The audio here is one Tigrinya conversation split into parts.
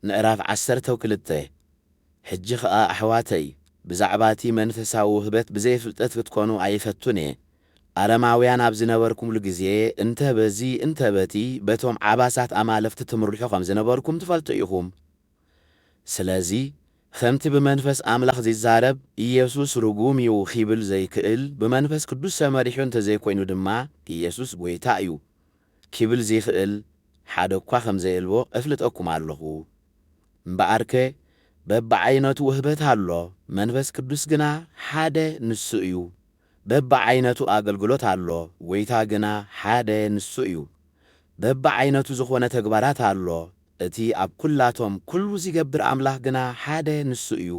ምዕራፍ ዓሰርተው ክልተ ሕጂ ኸኣ ኣሕዋተይ፣ ብዛዕባ እቲ መንፈሳዊ ውህበት ብዘይ ፍልጠት ክትኰኑ ኣይፈቱን እየ። ኣረማውያን ኣብ ዝነበርኩምሉ ግዜ፣ እንተ በዚ እንተ በቲ በቶም ዓባሳት ኣማልኽቲ ትምርሑ ኸም ዝነበርኩም ትፈልጡ ኢኹም። ስለዚ፣ ኸምቲ ብመንፈስ ኣምላኽ ዚዛረብ፣ ኢየሱስ ርጉም እዩ ኺብል ዘይክእል፣ ብመንፈስ ቅዱስ ተመሪሑ እንተ ዘይኰይኑ ድማ፣ ኢየሱስ ጐይታ እዩ። ኪብል ዚኽእል ሓደ እኳ ኸም ዘየልቦ እፍልጠኩም ኣሎኹ። እምበኣርከ በብዓይነቱ ውህበት ኣሎ፣ መንፈስ ቅዱስ ግና ሓደ ንሱ እዩ። በብዓይነቱ ኣገልግሎት ኣሎ፣ ጐይታ ግና ሓደ ንሱ እዩ። በብዓይነቱ ዝኾነ ተግባራት ኣሎ፣ እቲ ኣብ ኵላቶም ኵሉ ዚገብር ኣምላኽ ግና ሓደ ንሱ እዩ።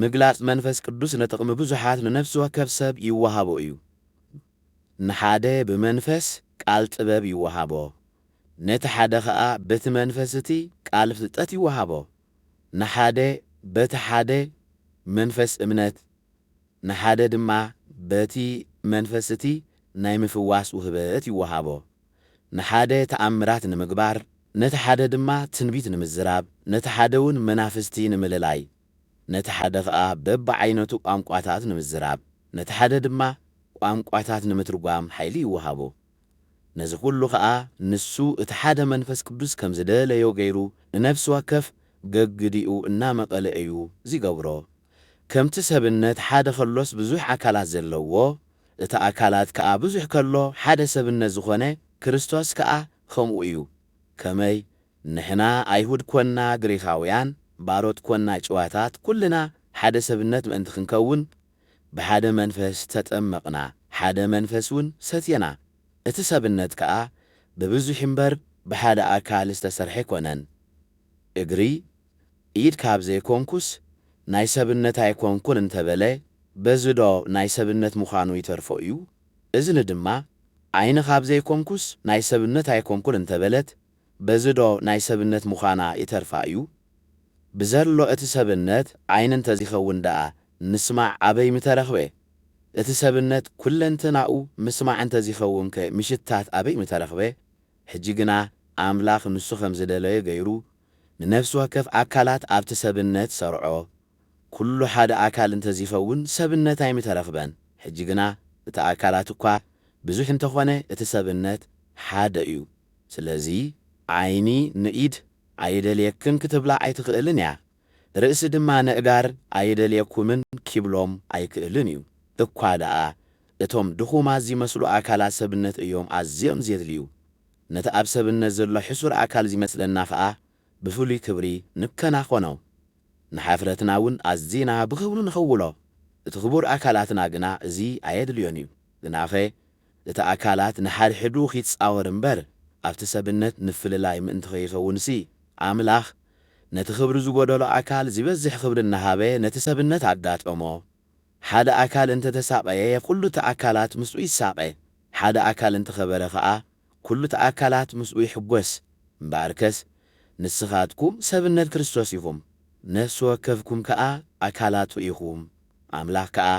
ምግላጽ መንፈስ ቅዱስ ንጥቕሚ ብዙሓት ንነፍሲ ወከፍ ሰብ ይወሃቦ እዩ። ንሓደ ብመንፈስ ቃል ጥበብ ይወሃቦ፣ ነቲ ሓደ ኸኣ በቲ መንፈስ እቲ ቃል ፍልጠት ይወሃቦ፣ ንሓደ በቲ ሓደ መንፈስ እምነት፣ ንሓደ ድማ በቲ መንፈስ እቲ ናይ ምፍዋስ ውህበት ይወሃቦ፣ ንሓደ ተኣምራት ንምግባር፣ ነቲ ሓደ ድማ ትንቢት ንምዝራብ፣ ነቲ ሓደውን መናፍስቲ ንምልላይ፣ ነቲ ሓደ ኸኣ በብዓይነቱ ቋንቋታት ንምዝራብ፣ ነቲ ሓደ ድማ ቋንቋታት ንምትርጓም ሓይሊ ይወሃቦ። ነዚ ዅሉ ኸኣ ንሱ እቲ ሓደ መንፈስ ቅዱስ ከም ዝደለዮ ገይሩ ንነፍሲ ወከፍ ገግዲኡ እናመቐለ እዩ ዚገብሮ። ከምቲ ሰብነት ሓደ ኸሎስ ብዙሕ ኣካላት ዘለዎ፣ እቲ ኣካላት ከኣ ብዙሕ ከሎ ሓደ ሰብነት ዝዀነ ክርስቶስ ከኣ ኸምኡ እዩ። ከመይ ንሕና ኣይሁድ ኰንና ግሪኻውያን፣ ባሮት ኰንና ጭዋታት፣ ኵልና ሓደ ሰብነት ምእንቲ ኽንከውን፣ ብሓደ መንፈስ ተጠመቕና፣ ሓደ መንፈስውን ሰቴና፣ እቲ ሰብነት ከኣ ብብዙኅ እምበር ብሓደ ኣካል ዝተሠርሐ ኣይኮነን። እግሪ፣ ኢድ ካብ ዘይኮንኩስ ናይ ሰብነት ኣይኮንኩን እንተ በለ፣ በዝዶ ናይ ሰብነት ምዃኑ ይተርፎ እዩ? እዝኒ ድማ፣ ዓይኒ ካብ ዘይኮንኩስ ናይ ሰብነት ኣይኮንኩን እንተ በለት፣ በዚ ዶ ናይ ሰብነት ምዃና ይተርፋ እዩ? ብዘሎ እቲ ሰብነት ዓይኒ እንተዚኸውን ደኣ ምስማዕ ኣበይ ምተረኽበ? እቲ ሰብነት ኵለንተናኡ ምስማዕ እንተዚኸውንከ ምሽታት ኣበይ ምተረኽበ? ሕጂ ግና ኣምላኽ ንሱ ከም ዝደለዮ ገይሩ ንነፍሲ ወከፍ ኣካላት ኣብቲ ሰብነት ሰርዖ። ኵሉ ሓደ ኣካል እንተዚኸውን ሰብነት ኣይምተረኽበን። ሕጂ ግና እቲ ኣካላት እኳ ብዙሕ እንተኾነ እቲ ሰብነት ሓደ እዩ። ስለዚ ዓይኒ ንኢድ ኣይደልየክን ክትብላ ኣይትኽእልን እያ፣ ርእሲ ድማ ነእጋር ኣይደልየኩምን ኪብሎም ኣይክእልን እዩ። እኳ ደኣ እቶም ድኹማት ዚመስሉ ኣካላት ሰብነት እዮም ኣዝዮም ዜድልዩ። ነቲ ኣብ ሰብነት ዘሎ ሕሱር ኣካል ዚመስለና ኸኣ ብፍሉይ ክብሪ ንከናኸኖ፣ ንሓፍረትና እውን ኣዚና ብኽብሪ ንኽውሎ፣ እቲ ክቡር ኣካላትና ግና እዚ ኣየድልዮን እዩ። ግናኸ እቲ ኣካላት ንሓድሕዱ ኺጻወር እምበር፣ ኣብቲ ሰብነት ምፍልላይ ምእንቲ ኸይኸውንሲ፣ ኣምላኽ ነቲ ኽብሪ ዝጐደሎ ኣካል ዚበዝሕ ኽብሪ እናሃበ ነቲ ሰብነት ኣጋጠሞ። ሓደ ኣካል እንተ ተሳቐየ፣ ኵሉ እቲ ኣካላት ምስኡ ይሳቐ፣ ሓደ ኣካል እንተ ኸበረ ኸኣ፣ ኩሉቲ ኣካላት ምስኡ ይሕጐስ። እምበኣርከስ ንስኻትኩም ሰብነት ክርስቶስ ኢኹም፣ ነፍሲ ወከፍኩም ከኣ ኣካላቱ ኢኹም። ኣምላኽ ከኣ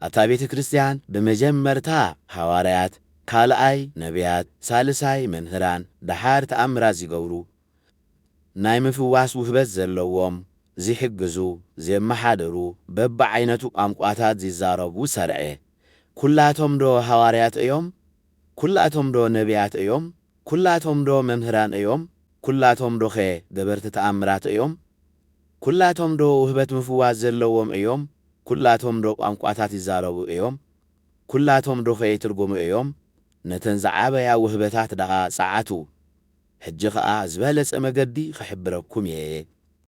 ኣብታ ቤተ ክርስትያን ብመጀመርታ ሃዋርያት፣ ካልኣይ ነብያት፣ ሳልሳይ መምህራን፣ ደሓር ተኣምራት ዚገብሩ፣ ናይ ምፍዋስ ውህበት ዘለዎም፣ ዚሕግዙ፣ ዜመሓድሩ፣ በብዓይነቱ ቋንቋታት ዚዛረቡ ሰርዐ። ኵላቶምዶ ሃዋርያት እዮም? ኵላቶምዶ ነብያት እዮም? ኵላቶምዶ መምህራን እዮም? ኵላቶምዶኸ ገበርቲ ተኣምራት እዮም? ኵላቶምዶ ውህበት ምፍዋስ ዘለዎም እዮም? ኵላቶምዶ ቋንቋታት ይዛረቡ እዮም? ኵላቶምዶኸ ይትርጕሙ እዮም? ነተን ዝዓበያ ውህበታት ደኣ ጸዓቱ። ሕጂ ኸኣ ዝበለጸ መገዲ ኽሕብረኩም እየ።